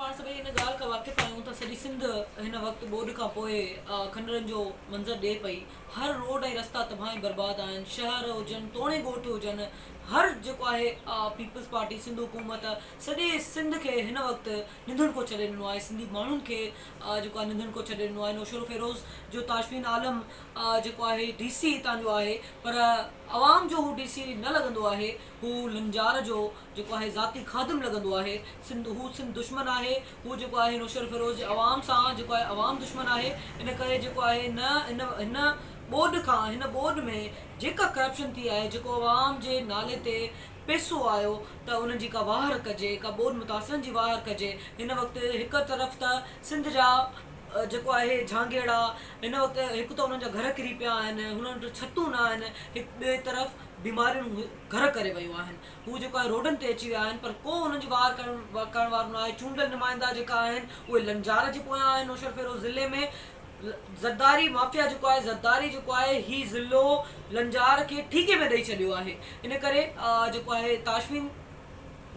پاڻ سڀئي ان ڳالهه کان واقف آهيون ته سڄي سنڌ هن وقت ٻوڏ کان پوء کنڊرن جو منظر ڏئي پئي. هر روڊ ۽ رستا تباهه ۽ برباد آهن. شهر هجن توڻي ڳوٺ هجن هر جيڪو آهي پيپلز پارٽي سنڌ حڪومت سڄي سنڌ کي هن وقت ننڌڻڪو ڇڏي ڏنو آهي سنڌي ماڻهن کي جيڪو آهي ننڌڻڪو ڇڏي ڏنو آهي نوشهروفيروز جو تاشفين عالم جيڪو آهي ڊي سي هتان جو آهي پر عوام جو هو ڊي سي نه لڳندو آهي هو لنجار جو جيڪو آهي ذاتي خادم لڳندو آهي. سنڌ هو سنڌ دشمن آهي. هو جيڪو آهي نوشهرفيروز جي عوام سان جيڪو آهي عوام دشمن آهي. ان ڪري جيڪو آهي هن هن هن ٻوڏ کان هن ٻوڏ ۾ جيڪا ڪرپشن ٿي آهي جيڪو عوام جي نالي تي پيسو آيو ته انهن جي ڪا واهر ڪجي ڪا ٻوڏ متاثرن جي واهر ڪجي هن وقت هڪ طرف ته سنڌ جا جيڪو آهي جهانگيئڙا هن وقت هڪ ته انهن جا گهر ڪري پيا آهن هنن وٽ ڇتون نه آهن هڪ ٻئي طرف بيماريون گهر ڪري ويون آهن. هو جيڪو آهن روڊن تي اچي ويا آهن پر ڪو هنن جي واهر ڪرڻ وارو ناهي. چونڊيل نمائندا جيڪا آهن اهي لنجار جي پويان آهن نوشهرفيروز ضلعي ۾ زرداري مافيا جيڪو آهي زرداري جيڪو آهي هي ضلعو لنجار کي ٺيڪي ۾ ڏئي ڇڏيو آهي ان ڪري جيڪو آهي تاشفين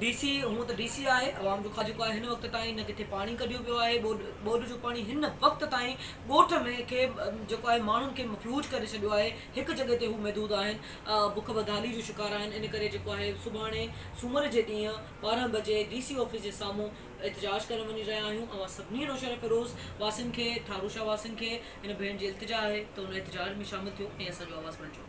ڊي سي هونء ته ڊي سي آهي عوام جو خواجو ڪوهي هن وقت تائين نه ڪٿي پاڻي ڪڍيو ويو آهي ٻوڏ ٻوڏ جو پاڻي هن وقت تائين ڳوٺ ۾ کي جيڪو آهي ماڻهن کي مفيوج ڪري ڇڏيو آهي هڪ جڳهه تي هو محدود آهن بک بدحالي جو شڪار آهن ان ڪري جيڪو آهي سڀاڻي سومر جي ڏينهن ٻارهن بجي ڊي سي آفيس جي سامهون احتجاج ڪرڻ وڃي رهيا آهيون اوهان سڀني نوشهرفيروز واسين کي ٺارو شاهه واسين کي هن ڀيڻ جي التجا آهي ته ان احتجاج ۾ شامل ٿيو ۽ اسان جو آواز بڻجو